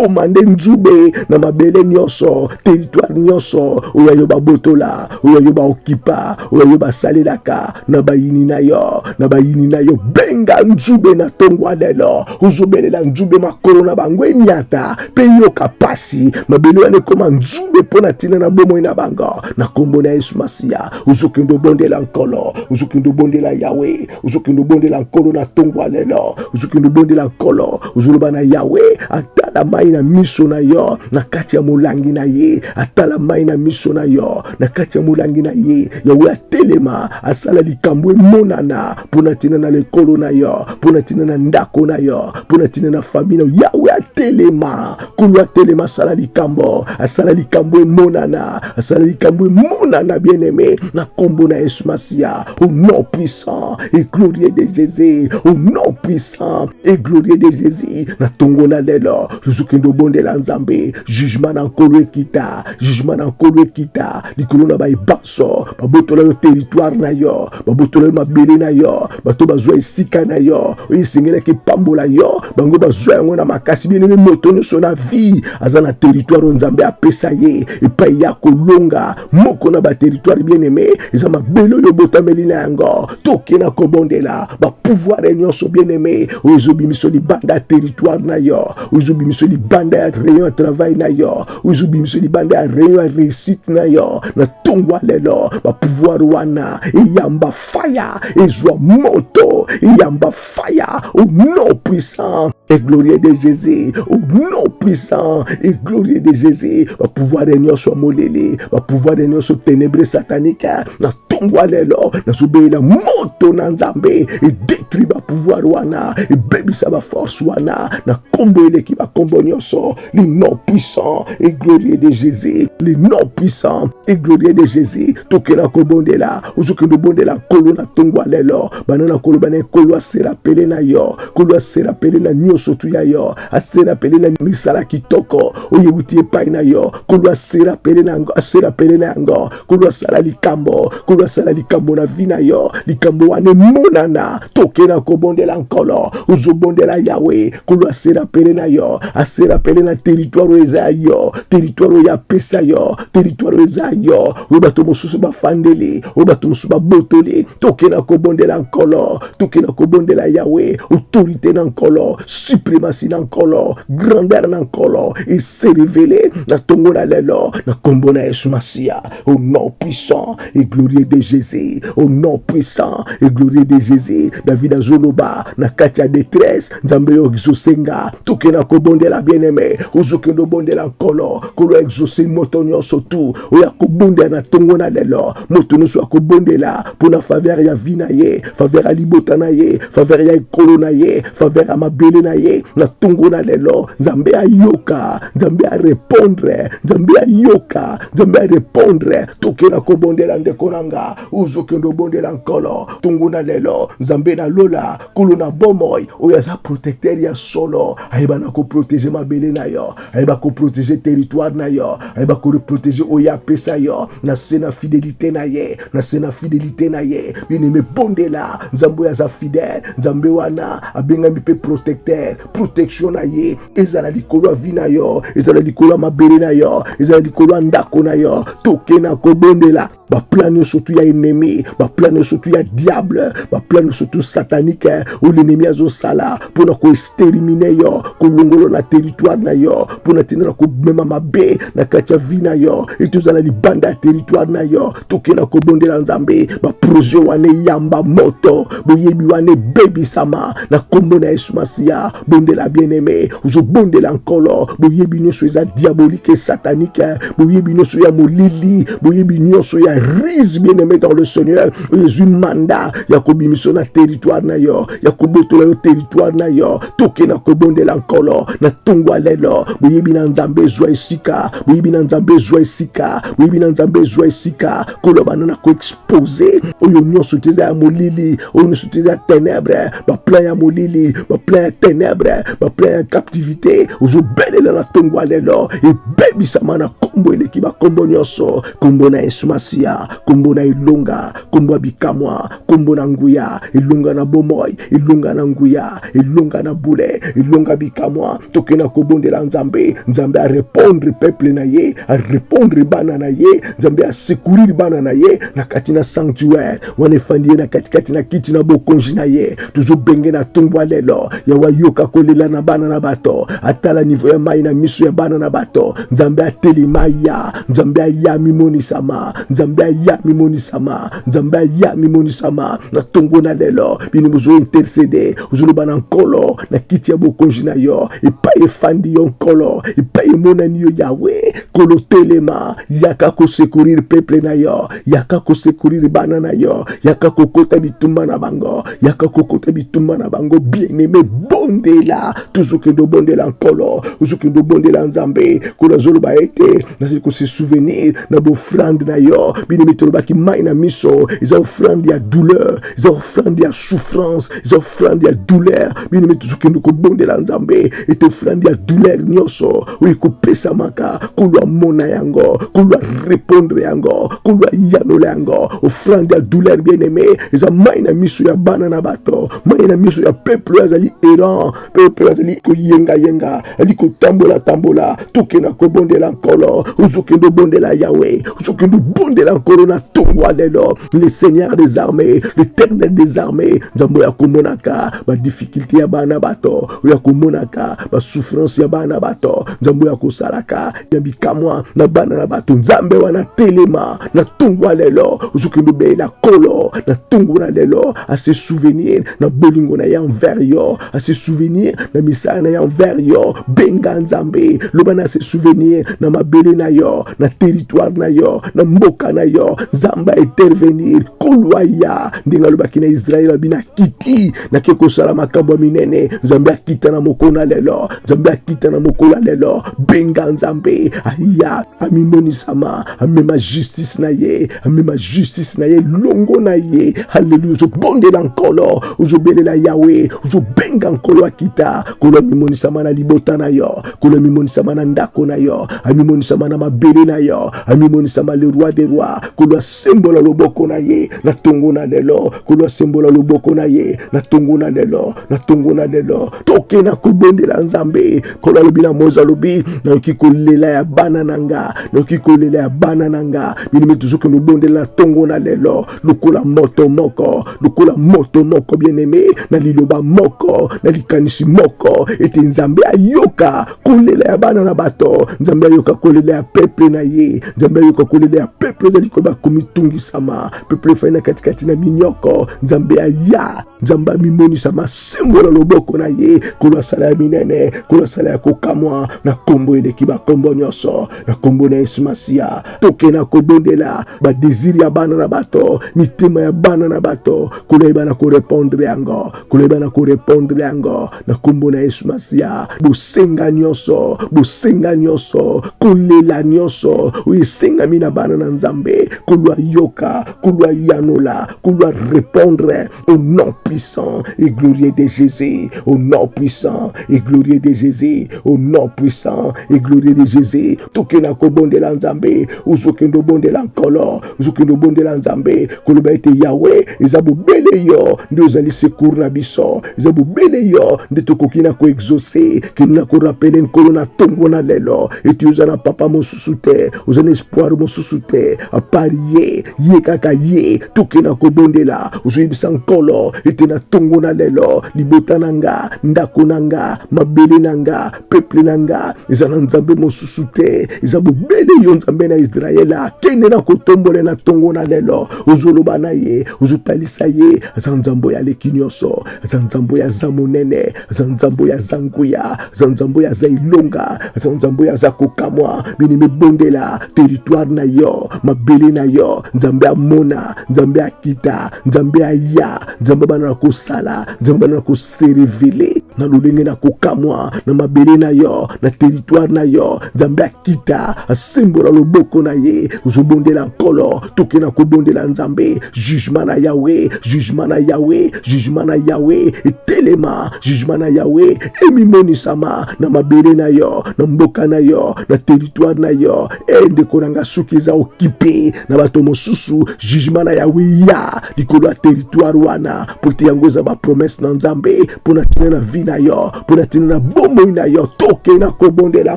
komande nzube na mabele nyonso teritware nyonso oyo yo babotola oyo yo baokipa oyo yo basalelaka na bayini na yo na bayini na yo benga nzube na ntongo lelo ozobelela nzube makolo na bango enyata mpe yoka mpasi mabele wana ekoma nzube mpo na ntina na bomoi na bango na nkombo na yesu masiya ozokende obondela nkolo ozokende obondela yawe ozokende obondela nkolo na ntongo ya lelo ozokende obondela nkolo ozoloba na yawe atala mai na miso na yo na kati ya molangi na ye atala mai na miso na yo na kati ya molangi na ye yawe atelema asala likambo emonana mpo na ntina na lekolo na yo mpo na ntina na ndako na yo mpo na ntina na fami na yo yawe atelema kulu atelema asala likambo asala likambo emonana asala likambo emonana bien aimé na kombo na yesu masiya au nom puissant et glorieux de jésus au nom puissant et glorieux de jésus na tongo na lelo tozokende obondela nzambe jugement na nkolo ekita jugement na nkolo ekita likolo na baebanso nyonso babotola yo teritware na yo babotola yo mabele na yo bato bazwa esika na yo oyo esengelaki epambola yo bango bazwa yango na makasi bieneme moto nyonso na vie aza na teritware oyo nzambe apesa ye epai ya kolonga moko na bateritware bieneme eza mabele oyo obotameli na yango toke na kobondela bapouvoire nyonso bieneme oyo ezobimiso libanda ya teritware na yo oyo ezobimiso libanda ya rayon ya travail na yo ozo bimisa libanda ya reyo ya resite na yo na ntongo ya lelo bapouvoir wana eyamba faya ezwa moto eyamba faya au nom puissant et glorieux de Jésus, au nom puissant et glorieux de Jésus, va pouvoir réunir sur Molili, va pouvoir réunir sur ténébré satanique, na tongo alelo, na soubé la moto na nzambe, et détruit va pouvoir wana, et baby ça va force wana, na combo eleki va combo nyoso, Le nom puissant et glorieux de Jésus. Le nom puissant et glorieux de Jésus. Tokela kobondela. Ozokende bondela kolo na tongo ya lelo. Bana na kolo bana kolo asera pele na yo. Kolo asera pele na nyoso tu ya yo. Asera pele na misala kitoko. Oye wuti epai na yo. Kolo asera pele na yango. Asera pele na yango. nkolo asala likambo nkolo asala likambo na vi na yo likambo wana emonana toke na kobondela nkolo ozobondela yawe nkolo asera pele na yo asera pele na teritware oyo eza ya yo teritware oyo apesa yo teritware oyo eza ya yo oyo bato mosusu bafandeli oyo bato mosusu babotoli toke na kobondela nkolo toke na kobondela yawe autorité na nkolo suprematie na nkolo grandeur na nkolo eserevele na tongo na lelo na kombo na yesu masiya au nom puissant et glorieux de jésus au nom puissant et glorieux de jésus david azoloba na kati ya détresse nzambe yo ozosenga toke na kobondela bien aimé ozokende obondela nkolo kolo exauce moto nyonso tu oyo akobondela na tongo na lelo moto nyonso akobondela mpo na faveur ya vie na ye faveur ya libota na ye faveur ya ekolo na ye faveur ya mabele na ye na ntongo na lelo nzambe ayoka nzambe arepondre nzambe ayoka nzambe arepondre tokela kobondela ndeko na nga ozokende obondela nkolo ntongo na lelo nzambe na lola kolo na bomoi oyo aza protecteur ya solo ayebana koprotege mabele na yo ayeba koprotege territoire na yo ayeba koreprotege oyo apesa yo na se na fidelité na ye na se na fidelité na ye bineme bondela nzambe oyo aza fidèle nzambe wana abengami mpe protecteur protection na ye ezala likolo ya vi na yo ezala likolo ya mabele na yo ezala likolo ya ndako na yo toke na kobondela baplan nyonso tu ya ennemi baplan nyonso tu ya diable baplan nyonso tu satanike eh, oyo lenemi azosala mpo na koesterimine yo kolongolo na teritware na yo mpo na ntina na komema mabe na kati ya vi na yo ete ozala libanda ya teritware na yo tokenda kobondela nzambe baproje wana eyamba moto boyebi wana ebebisama na kombo na yesu masiya bondela bien aime ozobondela nkolo boyebi nyonso eza diabolike satanike boyebi nyonso ya molili boyebi nyonso ya rise bien aime dans le seigneur oyo ezwi manda ya kobimiso na territoire na yo ya kobotola yo territoire na yo toke na kobondela nkolo na ntongwa lelo boyebi na nzambe ezwa esika boyebi na nzambe ezwa esika boyebi na nzambe ezwa esika koloba na na koexpose oyo nyonso te eza ya molili oyo nyonso te eza ya tenebre baplan ya molili baplan ya tenebre baplan ya captivité ozobelela na ntongo ya lelo ebebisama na nkombo eleki bankombo nyonso nkombo na yesu masiya nkombo na elonga nkombo ya bikamwa nkombo na nguya elonga na bomoi elonga na nguya elonga na bule elonga bikamwa toke na kobondela nzambe nzambe arepondre peuple na ye arepondre bana na ye nzambe asekurire bana na ye na kati na sanctuaire wana efandi ye na katikati na kiti na bokonzi na ye tozobenge na ntongo ya lelo yawe ayoka kolela na bana na bato atala nivo ya mai na miso ya bana na bato nzambe atelema ya nzambe aya mimonisama nzambe aya mimonisama nzambe aya mimonisama na ntongo na lelo bino bozo intercede ozoloba na nkolo na kiti ya bokonzi na yo epai efandi yo nkolo epai emonani yo yawe nkolo telema yaka kosekurire peple na yo yaka kosekurire bana na yo yaka kokota bitumba na bango yaka kokota bitumba na bango bieneme bondela tozokende obondela nkolo ozokende obondela nzambe nkolo azoloba ete nazali kosesouvenir na bofrande na yo bino mitolobaki mai na miso eza ofrande ya douleur eza ofrande ya souffrance eza ofrande ya douleur bino mitozokende kobondela nzambe ete ofrande ya douleur nyonso oyo ekopesamaka kulu amona yango kulu arepondre yango kulu ayanola yango ofrande ya douleur bien aime eza mai na miso ya bana na bato mai na miso ya peuple oyo azali errant peuple azali koyengayenga ali kotambola tambola tokenda kobondela nkolo ozokende obondela yawe ozokende obondela nkolo na ntongo ya lelo le seigneur des armées l'éternel des armées nzambe oyo akomonaka badifficulté ya bana bato oyo akomonaka basouffrance ya bana bato nzambe oyo akosalaka ya bikamwa na bana na bato nzambe wana telema na ntongo ya lelo ozokende obelela kolo na ntongo na lelo ase souvenir na bolingo na ye envers yo ase souvenir na misala na ye envers yo benga nzambe loba na ase souvenir na mabele na yo na territoire na yo na mboka na yo nzambe intervenir kolwa ya ndenge alobaki na israel abi na kiti nake kosala makambo ya minene nzambe akita na mokolo na lelo nzambe akita na mokolo ya lelo benga nzambe aya amimonisama amema justice na ye amema justice na ye longo na ye haleluya ozobondela nkolo ozobelela yawe ozobenga nkolo akita kolo amimonisama na libota na yo kolo amimonisama na ndako na yo amimonisama na mabele na yo amimonisama le roi de roi kolo asembola loboko na ye na tongo na lelo nkolo asembola loboko na ye na ntongo na lelo na ntongo na lelo toke na kobondela nzambe nkolo alobi na moise alobi nayoki kolela ya bana na nga nayoki kolela ya bana na nga bino mpe tozokende obondela na ntongo na lelo lokola moto moko lokola moto moko bieneme na liloba moko na likanisi moko ete nzambe ayoka kolela ya bana na bato nzambe ayoka kolela ya peple na ye nzambe ayoka kolela ya peple ezali koba komitungisama peuple efai na katikati na minyoko nzambe aya nzambe amimonisa masembo na loboko na ye kolo asala ya minene kolo asala ya kokamwa na nkombo eleki bankombo nyonso na nkombo na yesu masiya toke na kobondela badesire ya bana na bato mitema ya bana na bato koloyeba na korepondre yango koloyeba na korepondre yango na nkombo na yesu masiya bosenga nyonso bosenga nyonso kolela nyonso oyo esengami na bana na nzambe kolwa yoka kolwa yanola kolwa répondre au nom puissant et glorieux de jésus au nom puissant et glorieux de jésus au nom puissant et glorieux de jésus tokenda kobondela nzambe ozokende obondela nkolo ozokende obondela nzambe koloba ete yawe eza bobele yo nde ozali secour na biso eza bobele yo nde tokoki na koexauce kende na korapele nkolo na ntongo na lelo ete oza na papa mosusu te oza na espoir mosusu te apart ye ye kaka ye tokende na kobondela ozoyebisa nkolo ete na ntongo na lelo libota na nga ndako na nga mabele na nga peple na nga eza na nzambe mosusu te eza bobele yo nzambe na israele akende na kotombole na ntongo na lelo ozoloba na ye ozotalisa ye aza nzambe oyo aleki nyonso aza nzambe oyo aza monene aza nzambe oyo aza nguya aza nzambe oyo aza elonga aza nzambe oyo aza kokamwa bini mibondela teritware na yo mabele na yo nzambe amona nzambe akita nzambe aya nzambe abanda na kosala nzambe abanda na koserevele na lolenge na kokamwa na mabele na yo na teritware na yo nzambe akita asembola loboko na ye ozobondela nkolo toke na kobondela nzambe jugema na yawe jugema na yawe jugema na yawe etelema jugema na yawe emimonisama na mabele na yo na mboka na yo na teritware na yo Hey, eh, ndeko na nga soki eza okipe na bato mosusu jugement na yawe ya likolo ya territoire wana mpo te yango eza bapromese na nzambe mpo na ntina na vi na yo mpo na ntina na bomoi na yo toke na kobondela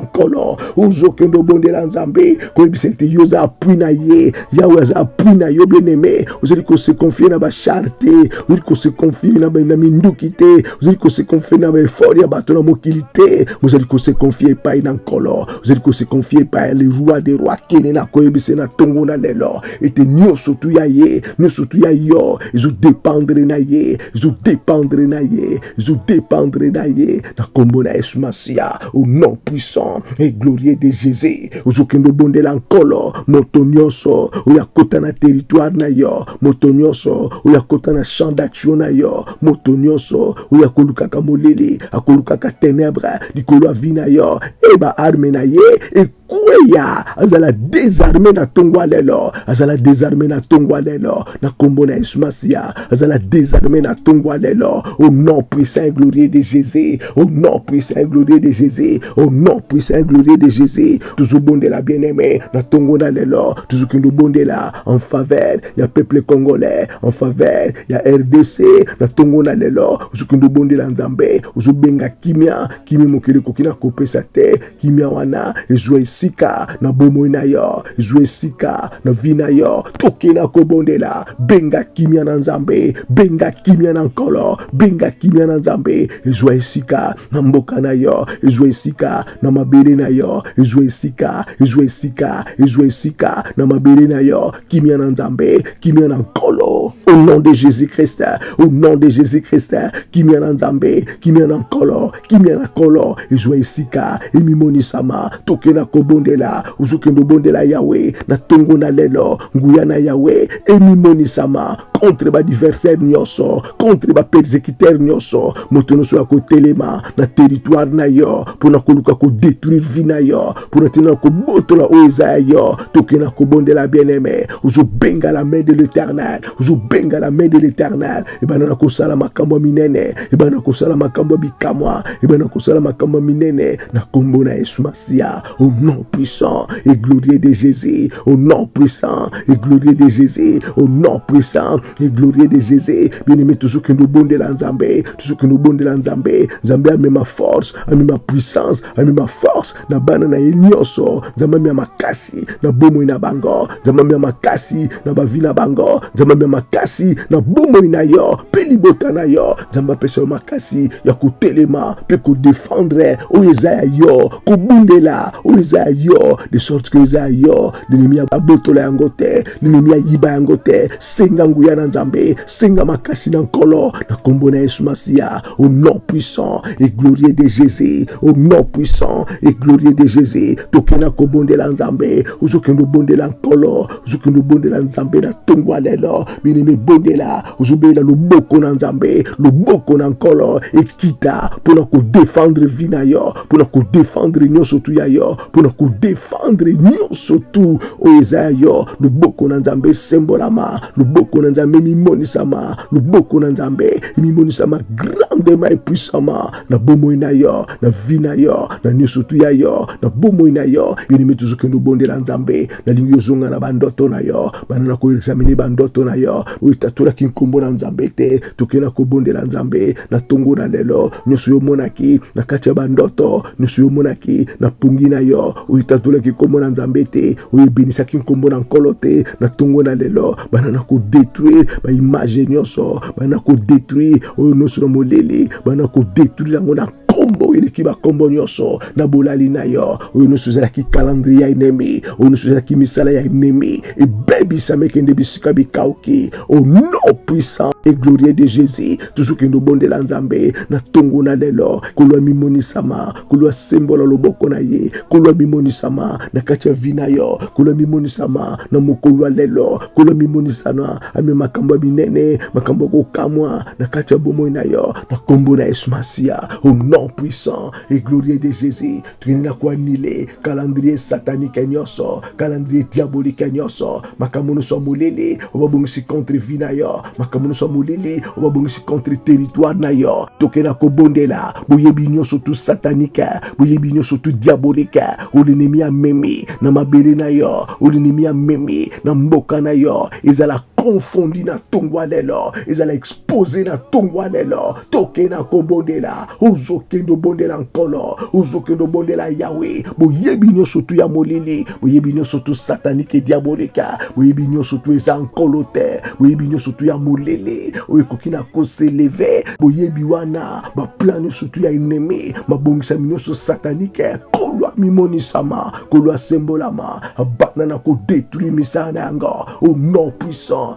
nkolo ozokende obondela nzambe koyebisa ete yo oza apui na ye yawe aza apui na yo bieneme ozali kosekonfie na bashar te ozali kosekonfie na minduki te ozali kosekonfie na baefort ya bato na mokili te ozali kosekonfie epai na nkolo tozali kose confie epai ya le roi de roi kene na koyebisa na ntongo na lelo ete nyonso tu ya ye nyonso tu ya yo ezodependre na ye ezodependre na ye ezodependre na ye na nkombo na yesu masiya au nom puissant et glorieux de jésus ozokende obondela nkolo moto nyonso oyo akota na territoire na yo moto nyonso oyo akota na champ d'action na yo moto nyonso oyo akolukaka molili akolukaka tenebre likolo ya vi na yo e baarme na ye ekweya azala desarme na ntongo ya lelo azala desarme na ntongo ya lelo na nkombo na yesu masiya azala desarme na ntongo ya lelo au nom puissant et glorieux de jésus au nom puissant et glorieux de jésus au nom puissant et glorieux de jésus tozobondela bien aime na ntongo na lelo tozokende obondela en faveur ya peuple congolais en faveur ya rdc na ntongo na lelo ozokende obondela nzambe ozobenga kimia kimia mokili ekoki na kopesa te kimia wana ezwa esika na bomoi na yo ezwa esika na vi na yo tokela kobondela benga kimia na nzambe benga kimia na nkolo benga kimia na nzambe ezwa esika na mboka na yo ezwa esika na mabele na yo ezwa esika ezwa esika ezwa esika na mabele na yo kimia na nzambe kimia na nkolo au nom de jésus christ au nom de jésus christ kimia na nzambe kimia na nkolo kimia na nkolo ezwa esika emimonisama toke na kobondela ozokende obondela yawe na ntongo na lelo nguya na yawe emimonisama contre badiversaire nyonso contre bapersecutere nyonso moto nyonso ya kotelema na teritware na yo mpo na koluka kodetruire vi na yo mpo na ntina na kobotola oyo eza ya yo toke na kobondela bien-aime ozobenga la main de l'éternel ozobenga la main de l'éternel ebanda na kosala makambo ya minene ebanda na kosala makambo ya bikamwa ebanda na kosala makambo ya minene na nkombo na yesu masiya au nom puissant et glorieux de jésus au nom puissant et glorieux de jésus au nom puissant e glorie de jesus bien-aimé tozokende obondela nzambe tozokende obondela nzambe nzambe amema force amema puissance amema force na bana na ye nyonso nzambe amema makasi na bomoi na bango nzambe amema makasi na bavi na bango nzambe amema makasi na bomoi na yo mpe libota na yo nzambe apesa yo makasi ya kotelema mpe kodefendre oyo eza ya yo kobundela oyo eza ya yo de sorte que eza ya yo linemi abotola yango te Nehemia, yiba yango te, senga nguya na Nzambe, senga makasi na Nkolo na kombo na Yesu Masiya, au nom puissant et glorieux de Jésus, au nom puissant et glorieux de Jésus. Tokenda kobondela Nzambe, ozokende obondela Nkolo, ozokende obondela Nzambe na ntongo ya lelo, bino mibondela, ozobelela loboko na Nzambe, loboko na Nkolo ekita mpo na kodefendre vi na yo, mpo na kodefendre nyonso tu ya yo mpo na kodefendre nyonso tu oyo eza ya yo loboko na nzambe esembolama loboko na nzambe emimonisama loboko na nzambe emimonisama grandema epuisama na bomoi na yo na vi na yo na nyonso tu ya yo na bomoi na yo yonime tozokende obondela nzambe nalingi ozonga na bandoto na yo bana na koexamine bandoto na yo oyo etatolaki nkombo na nzambe te tokela kobondela nzambe na ntongo na lelo nyonso yo omonaki na kati ya bandoto nyonso yo omonaki na pongi na yo oyo etatolaki nkombo na nzambe te oyo ebenisaki nkombo na nkolo te na ntongo na lelo bana na kodetruire baimage nyonso bana kodetruire oyo nyonso na molili bana kodetruire yango na nkombo oyo eleki bankombo nyonso na bolali na yo oyo nyonso ezalaki kalandri ya enemi oyo nyonso ezalaki misala ya enemi ebebisami ekende bisika bikauki au nom puissant et glorieux de jésus tozokende obondela nzambe na ntongo na lelo kolo amimonisama kolo asembola loboko na ye kolo amimonisama na kati ya vi na yo kolo amimonisama na mokolo ya lelo kolo amimonisana ame makambo ya minene makambo ya kokamwa na kati ya bomoi na yo na nkombo na yesu masiya au nom puissant et glorieux de jésus toyini na koanile calendrier satanike nyonso calendrier diabolike nyonso makambo nyonso ya molili obabongisi contre vie na yo makambo nyonso ya molili obabongisi contre territoire na yo toke na kobondela boyebi nyonso tu satanike boyebi nyonso tu diabolike olinemi amemi na mabele na yo olinemi amemi na mboka na yo ezala confondi na ntongo ya lelo ezala poze na ntongo ya lelo toke na kobondela ozokende obondela nkolo ozokende obondela yawe boyebi nyonso tu ya molili boyebi nyonso tu satanike diabolika boyebi nyonso tu eza nkolo te boyebi nyonso tu ya molili oyo ekoki na koseleve boyebi wana baplan nyonso tu ya enemi mabongisami nyonso satanike nkolo amimonisama nkolo asembolama abanda na kodetruire misala na yango o non puissant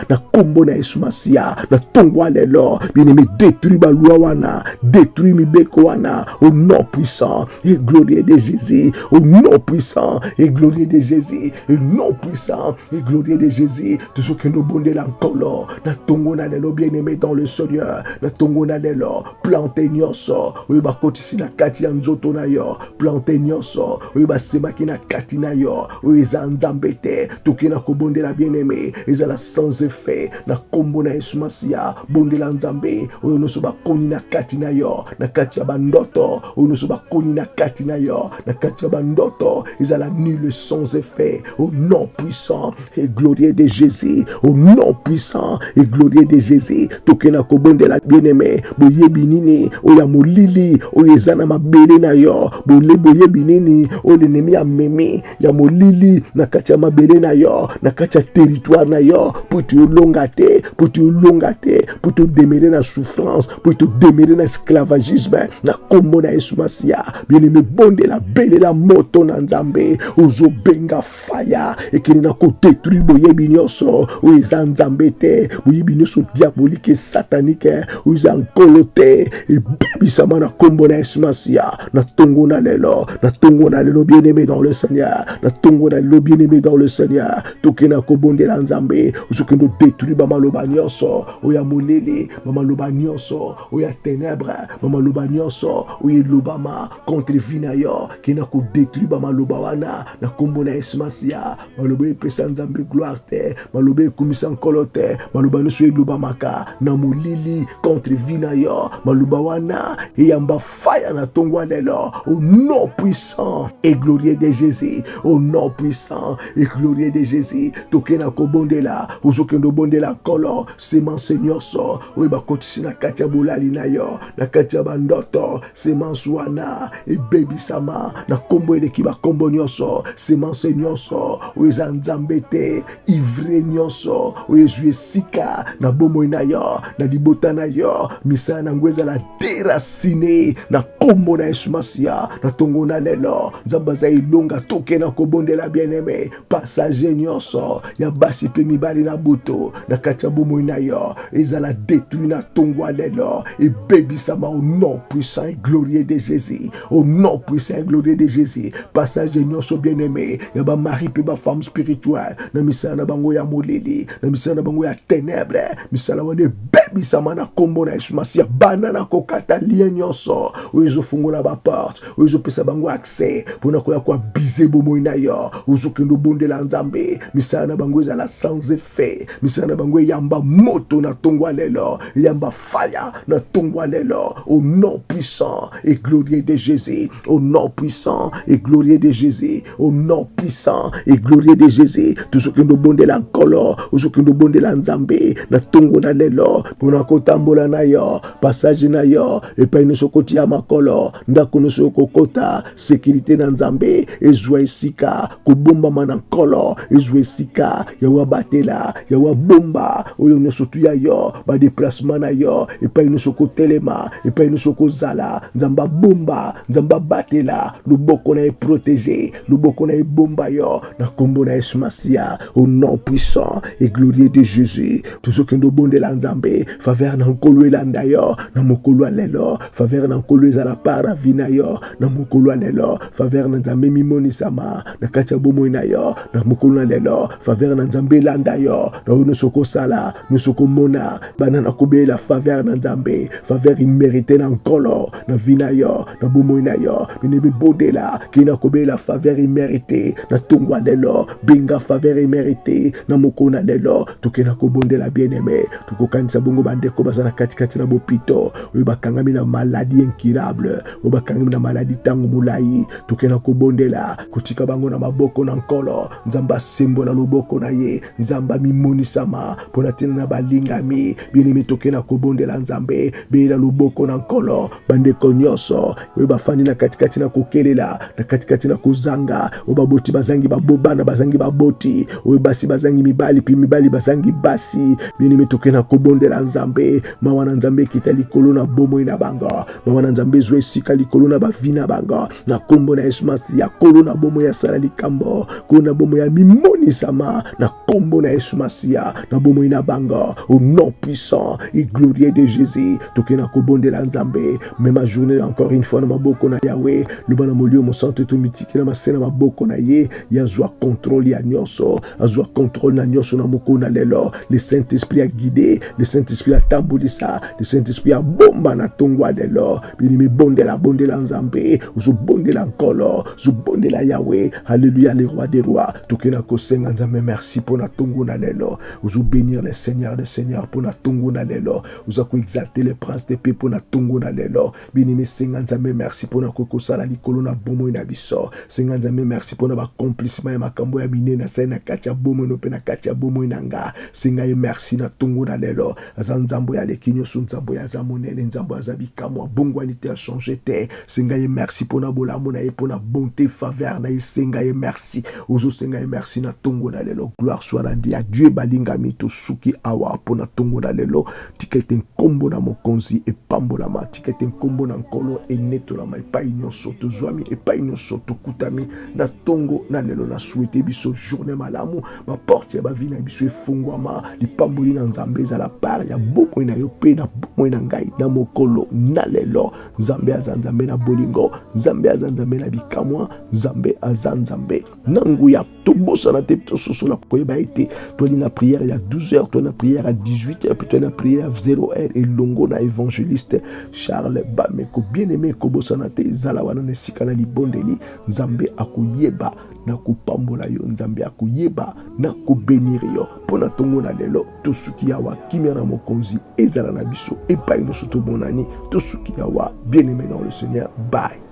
na kombo na yesu masiya na tongo alelo bien-aimé détruit balwa wana détruit mibeko wana au nom puissant et glorieux de jésus au nom puissant et glorieux de jésus et nom puissant et glorieux de jésus tozokende obondela nkolo na tongo na lelo bien-aimé dans le seigneur na tongo na lelo plante nyonso oyo bakoti si na kati ya nzoto na yo plante nyonso oyo basemaki na kati na yo oyo eza nzambe te toke na kobondela bien-aime ezala sans effet na nkombo na yesu masiya bondela nzambe oyo nyonso bakoni na kati na yo na kati ya bandoto oyo nyonso bakoni na kati na yo na kati ya bandoto ezala nul sans effet au nom puissant et glorieux de Jésus, au nom puissant et glorieux de Jésus, tokena kobondela bien-aimé, boyebi nini oya molili oyo eza na mabele na yo, bole boyebi nini oyo l'ennemi amemi ya molili na kati ya mabele na yo, na kati ya territoire na yo, mpo ete olonga te, mpo ete olonga te, mpo ete odemere na souffrance, mpo ete odemere na esclavagisme, na kombo na Yesu Masiya, bien-aimé, bondela belela moto na Nzambe, ozobenga faya ekende na kodetruire boyebi nyonso oyo eza nzambe te boyebi nyonso diabolike satanike oyo eza nkolo te ebebisama na nkombo na yesu masiya na ntongo na lelo na ntongo na lelo bien aimé dans le seigneur na ntongo na lelo bien aimé dans le seigneur tokende na kobondela nzambe ozokende odetruire bamaloba nyonso oyo ya molili bamaloba nyonso oyo ya tenebre bamaloba nyonso oyo elobama contre vie na yo ke na kodetruire bamaloba wana na nkombo na yesu masiya maloba epesa nzambe gloire te maloba ekumisa nkolo te maloba nyonso elobamaka na molili contre vie na yo maloba wana eyamba faya na ntongo lelo au nom puissant et glorieux de jésus au nom puissant et glorieux de jésus toke na kobondela ozokende obondela nkolo semence nyonso oyo bakotisi na kati ya bolali na yo na kati ya bandoto semence wana ebebisama na nkombo eleki bankombo nyonso semence nyonso oyo eza nzambe te ivre nyonso oyo ezwi esika na bomoi na yo na libota na yo misala na yango ezala derasine na nkombo na yesu masiya na ntongo na lelo nzambe aza elonga toke na kobondela bien-aime passage nyonso ya basi mpe mibali na butu na kati ya bomoi na yo ezala detruit na ntongo ya lelo ebebisama au nom puissant et glorieux de jésus au nom puissant et glorieux de jésus passage nyonso bien aimé ya bamari mpe bafemme spirituelle na misala na bango ya molili na misala na bango ya ténèbre misala wana ebebisama na nkombo na yesu masiya banda na kokata lien nyonso oyo ezofungola baporte oyo ezopesa bango accès mpo na koya koabize bomoi na yo ozokende obondela nzambe misala na bango ezala sans effet misala na bango eyamba moto na ntongo ya lelo eyamba faya na ntongo ya lelo au nom puissant et glorieux de jésus au nom puissant et glorieux de jésus au nom puissant et glorieux de jésus tozokende obondela nkolo ozokende obondela nzambe na ntongo na lelo mpo na kotambola na yo passage na yo epai nyonso kotia makolo ndako nyonso okokota sekirite na nzambe ezwa esika kobombama na nkolo ezwa esika yawe abatela yawe abomba oyo nyonso tuya yo badeplacement na yo epai nyonso kotelema epai nyonso kozala nzambe abomba nzambe abatela loboko na ye protege loboko na ebomba yo na nkombo na yesu masiya au nom puissant et glorieux de jésus tozokende obondela nzambe faveur na nkolo elanda yo na mokolo ya lelo faveur na nkolo ezala par na vi na yo na mokolo ya lelo faveur na nzambe mimonisama na kati ya bomoi na yo na mokolo na lelo faveur na nzambe elanda yo na oyo nyonso okosala nyonso komona bana na kobelela faveur na nzambe faveur imerite na nkolo na vi na yo na bomoi na yo mine mibondela kei na kobelela faveur imerite na ntongo ya lelo benga faveur imerite na mokolo na lelo toke na kobondela bien aime tokokanisa bongo bandeko baza na katikati na bopito oyo bakangami na maladi incurable oyo bakangami na maladi ntango molai toke na kobondela kotika bango na maboko na nkolo nzambe asembola loboko na ye nzambe amimonisama mpo na ntina na balingami bienemi toke na kobondela nzambe belela loboko na nkolo bandeko nyonso oyo bafandi na katikati na kokelela na katikati na kozanga oyo baboti bazangi babobana bazangi baboti oyo basi bazangi mibali mpe mibali bazangi basi bienemi toke na kobondela nzambe mawa na nzambe ekita likolo na bomoi na bango mawa na nzambe ezwa esika likolo na bavi na bango na kombo na Yesu Masiya, kolo na bomo ya sala likambo, kolo na bomo ya mimonisama, na kombo na Yesu Masiya, na bomo na bango, au nom puissant et glorieux de Jésus, toke na kobondela Nzambe, mema journée encore une fois na maboko na Yahweh, loba na molio mosantu tomitiki na mase na maboko na ye, ye azwa contrôle ya nyonso, azwa contrôle na nyonso na moko na lelo, le Saint-Esprit a guide, le Saint-Esprit a tambolisa, le Saint-Esprit a bomba na tongo ya lelo, Bien-aimé, bondela, bondela Nzambe, ozobondela Nkolo, zobondela Yahweh, Alléluia, le roi des rois. Tokela kosenga Nzambe merci pona tongo na lelo. Ozo bénir le Seigneur, le Seigneur pona tongo na lelo. Oza ko exalter le prince de paix pona tongo na lelo. Bien-aimé, senga Nzambe merci pona ko kosala likolo na bomoi na biso. Senga Nzambe merci pona ba accomplissement ya makambo ya minene asali na kati ya bomoi no pe na kati ya bomoi na nga. Senga ye merci na tongo na lelo. aza nzambo ya leki nyonso nzambo ya aza monene nzambo aza bikamwa bongwani te achange te senga ye merci mpo na bolamu na ye mpo na bonte faveur na ye senga ye merci ozosenga ye merci na ntongo na lelo gloire soit randi ya dieu balingami tosuki awa mpo na ntongo na lelo tika ete nkombo na mokonzi epambolama tika ete nkombo na nkolo enetolama epai nyonso tozwami epai nyonso tokutami na ntongo na lelo na swete biso journée malamu baporte ya bavi na biso efungwama lipamboli na nzambe ezala par ya bomoi na yo mpe na bomoi na ngai na mokolo na lelo nzambe aza nzambe na bolingo nzambe aza nzambe na bikamwa nzambe aza nzambe na nguya tobosana te tososola koyeba ete toali na priere ya 12 heures toali na priere ya 18 heures mpe toali na priere ya 0 heure elongo na évangéliste charles bameko bien aime kobosana te zala wana na esika na libondeli nzambe akoyeba nakopambola yo nzambe ya koyeba nakobenire yo mpo na ntongo na lelo tosuki yawa kimia na mokonzi ezala na biso epai nyonso tomonani tosuki yawa bien aimé dans le seigneur bye